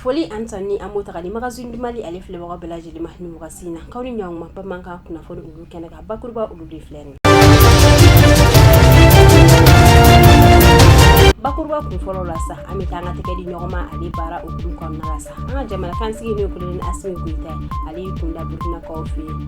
Foli an ta ni an mota ni magazine du Mali ale filɛbaga bɛɛ lajɛlen ma ni wagati in na k'aw ni ɲɔgɔn ma bamanankan kunnafoni olu kɛnɛ kan bakuruba olu de filɛ nin bakuruba kun fɔlɔ la sa an bɛ taa an ka tɛgɛ di ɲɔgɔnma ale baara hukumu kɔnɔna la sa an ka jamana kansigi n'o ye kolonɛli asimi goyita ale y'i kunda burukinakaw fɛ yen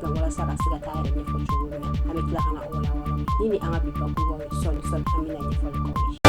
ka walasa ka se ka taa yɛrɛ ɲɛfɔ cogo min na an bɛ tila ka na o walawala nin ye an ka bi bakuruba ye sɔɔni sɔɔni an bɛna ɲɛfɔli k'aw ye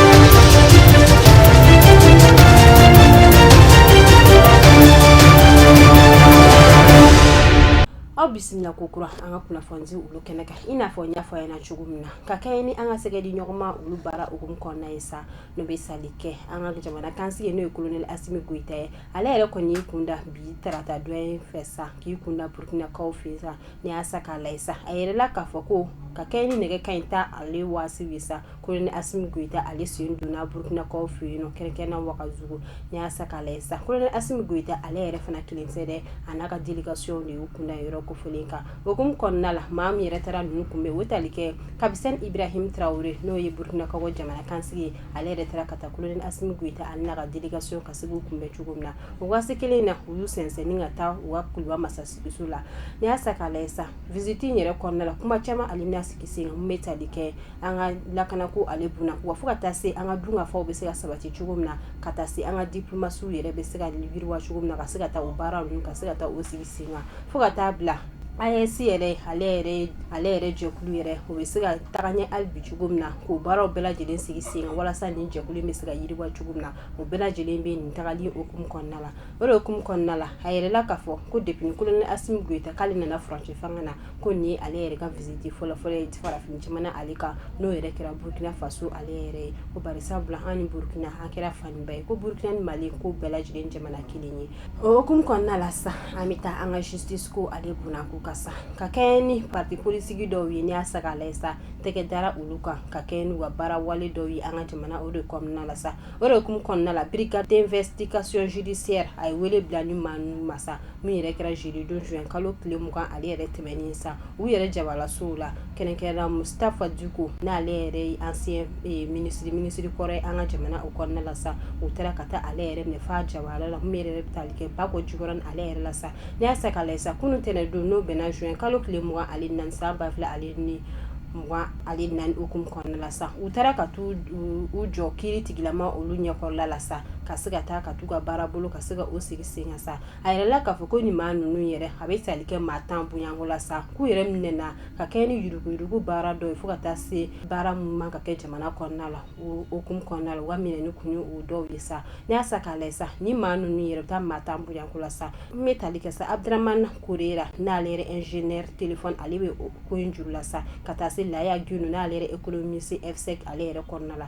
aw bisimila ko kura an ka kunnafoni olu kɛnɛ kan i n'a fɔ n y'a fɔ ɲɛna cogo min na ka kɛɲɛ ni an ka tɛgɛ di ɲɔgɔnma olu baara hukumu kɔnɔna ye sa n'o bɛ tali kɛ an ka jamana kansigi n'o ye kolonɛli asimi goyita ye ale yɛrɛ kɔni y'i kunda bi tarata don in fɛ sa k'i kunda burukinakaw fɛ sa n'i y'a ta k'a lajɛ sa a yɛrɛ la k'a fɔ ko ka kɛɲɛ ni nɛgɛ kanɲɛ tan ale waati ye sa kolonɛli asimi goyita ale sen donna burukinakaw fɛ yen kɛrɛnkɛrɛnna wagadugu n'i y'a ta k'a lajɛ sa kolonɛli asimi goyita ale yɛrɛ fana kelen tɛ dɛ a n'a ka délégation de y'u kunda yɔrɔ kofɔlen kan hukumu kɔnɔna la maa min yɛrɛ taara ninnu kunbɛn o tali kɛ kapitɛni ibrahim tarawele n'o ye burukinakaw jamana kansigi ye ale yɛrɛ taara ka taa kolonɛli asimi goyita ale n'a ka délégation ka se k'u kunbɛn cogo min na o waati kelen in na u y'u sɛnsɛn ka taa u ka kuluba masaso la n'i y'a ta k'a lajɛ sa visite in yɛrɛ kɔnɔna la kuma caman ale bɛna sigi sen kan min bɛ tali kɛ an ka lakana ko ale kunna wa fo ka taa se an ka dunkafaw bɛ se ka sabati cogo min na ka taa se an ka diplomasiw yɛrɛ bɛ se ka yiriwa cogo min na ka se ka taa u baara ninnu ka se ka taa u sigi sen kan fo ka taa bila AES yɛrɛ ale ale yɛrɛ jɛkulu yɛrɛ o bɛ se ka taga ɲɛ hali bi cogo min na k'o baaraw bɛɛ lajɛlen sigi sen kan walasa nin jɛkulu in bɛ se ka yiriwa cogo min na o bɛɛ lajɛlen bɛ nin tagali hukumu kɔnɔna la o de hukumu kɔnɔna la a yɛrɛ la k'a fɔ ko depuis ni kolonɛli Asimi Goyita k'ale nana furancɛ fanga na ko nin ye ale yɛrɛ ka visite fɔlɔfɔlɔ ye farafin jamana ale kan n'o yɛrɛ kɛra Burkina Faso ale yɛrɛ ye ko bari sabula an ni Burkina an kɛra fa ni ba ye ko Burkina ni Mali k'u bɛɛ lajɛlen jamana kelen ye o hukumu kɔnɔna la sa an bɛ taa an ka justice ko ale kunko kan sa ka kɛɲɛ ni parti politique dɔw ye n'i y'a ta k'a lajɛ sa tɛgɛ dara olu kan ka kɛɲɛ n'u ka baara wale dɔw ye an ka jamana o de kɔnɔna la sa o de hukumu kɔnɔna la brigade d'investigation judiciaire a ye wele bila nin maa ninnu ma sa min yɛrɛ kɛra jeudi don juin kalo tile mugan ale yɛrɛ tɛmɛnen sa u yɛrɛ jabalasow la kɛrɛnkɛrɛnna Mustafa Diko n'ale yɛrɛ ye ancien minisiri minisiri kɔrɔ an ka jamana o kɔnɔna la sa u taara ka taa ale yɛrɛ minɛ f'a jabala la min yɛrɛ bɛ tali kɛ Bako Jikɔrɔni ale yɛrɛ la sa n'i y'a ta k'a lajɛ sa kunun tɛnɛn don n'o bɛnna juin kalo tile mugan ale ni naani san ba fila ale ni mugan ale ni naani hukumu kɔnɔna la sa u taara ka taa u jɔ kiiri tigilamaa olu ɲɛkɔrɔla la sa ka se ka taa ka taa u ka baara bolo ka se ka u sigi sen sa A yirala k'a fɔ ko nin maa ninnu yɛrɛ a bɛ tali kɛ maa tan bɔɲɔgɔnko la sa k'u yɛrɛ minɛna ka kɛɲɛ ni yuruguyurugu baara dɔ ye fo ka taa se baara minnu man kan ka kɛ jamana kɔnɔna la o hukumu kɔnɔna la u ka minɛni kun ye o dɔw ye sa n'i y'a sa k'a lajɛ sa ni maa ninnu yɛrɛ bɛ taa maa tan bɔɲɔgɔnko la sa n bɛ tali kɛ sa Abdramane Korera n'ale yɛrɛ ingénieur télécom ale bɛ ko in juru la sa ka taa se Laya Guindo n'ale yɛrɛ économiste FSEG ale yɛrɛ kɔnɔna la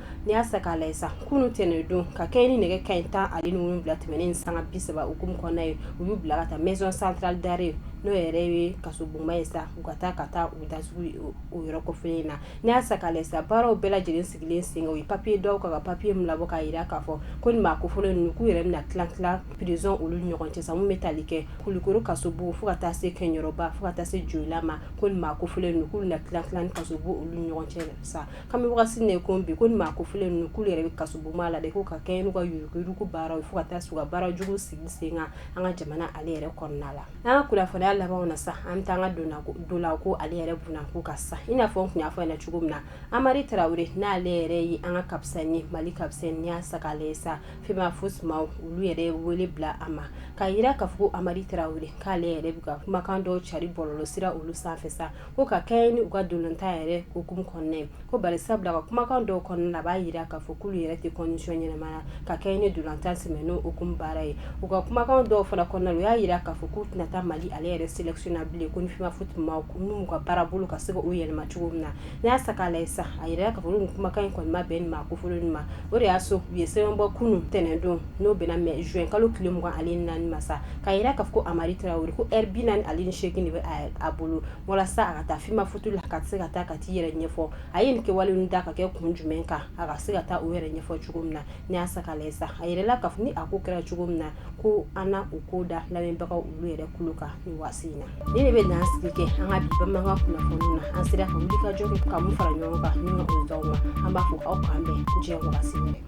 n'i y'a sa k'a lajɛ sa kunun tɛnɛndon ka kɛɲɛ ni nɛgɛ kanɲɛ tan ani wolonwula tɛmɛnen ni sanga bi saba hukumu kɔnɔna ye u y'u bila ka taa maison centrale d'arrêt n'o yɛrɛ ye kasobonba ye sa u ka taa ka taa u datugu o yɔrɔ kofɔlen na n'i y'a sa k'a lajɛ sa baaraw bɛɛ lajɛlen sigilen sen kan u ye papiye dɔw ka papiye min labɔ k'a jira k'a fɔ ko nin maa kofɔlen ninnu k'u yɛrɛ na tila tila prison olu ɲɔgɔn cɛ bɛ tali kɛ kulukoro kasobon fo ka taa se kɛɲɛrɔba fo ka taa se joyila ma ko maa kofɔlen ninnu k'u na tila kaso olu ɲɔgɔn cɛ sa kami de ko bi ko maa kofɔlen ninnu k'u yɛrɛ bɛ kasobonba la de ko ka kɛɲɛ n'u ka yuruguyurugu baara fo ka taa se u ka baara jugu sigi sen kan an ka jamana ale yɛrɛ kɔnɔna la an ka kibaruya laban na sa an bɛ taa an ka ntolatanko ale yɛrɛ bna ko ka sa i n'a fɔ n tun y'a fɔ ɲɛna cogo min na hamari tarawele n'ale yɛrɛ ye an ka kapitɛni ye mali kapitɛni ye sa ale sa Femafoot maa olu yɛrɛ wele bila a ma k'a jira k'a fɔ hamari tarawele k'ale yɛrɛ bɛ ka kumakan dɔ cari bɔlɔlɔ sira olu sanfɛ sa ko ka kɛɲɛ ni u ka ntolatan yɛrɛ hukumu kɔnɔna ye ko bari sabula ka kumakan dɔw kɔnɔna na a b'a jira k'a fɔ k'olu yɛrɛ tɛ condition ɲɛnamaya ka kɛɲɛ ni ntolatan sɛ n'o hukumu baara ye u ka kumakan dɔw fana kɔnɔna u y'a jira k'a fɔ k'u tɛna taa mali ale yɛrɛ sélection na bilen ko ni Femafoot n'u ka baara bolo ka se k'o yɛlɛma cogo min na n'i y'a sa k'a lajɛ sa a yira k'a fɔ kumakan in kɔni ma bɛn nin maa kofɔlen ma o de y'a to u ye sɛbɛn bɔ kunun ntɛnɛndon n'o bɛnna mɛ zuwɛnkalo tile mugan ani naani ma sa k'a jira k'a fɔ ko a hamari tarawele ye ko ɛri bi naani ani seegin de bɛ a ye a bolo walasa a ka taa Femafoot la ka se ka taa ka taa i yɛrɛ ɲɛfɔ a ye nin kɛwale ninnu da ka kɛ kun jumɛn kan a ka se ka taa o yɛrɛ ɲɛfɔ cogo min na n'i y'a sa k'a lajɛ sa a yirala k'a fɔ ni a ko kɛra cogo min na ko an na o ko da lamɛnbagaw olu yɛrɛ tulo kan nin waati in na nin de bɛ dansigi kɛ an ka bamanankan kunnafoni na an sera ka wuli ka jɔ ka min fara ɲɔgɔn kan an b'a fɔ aw k'an bɛn diɲɛ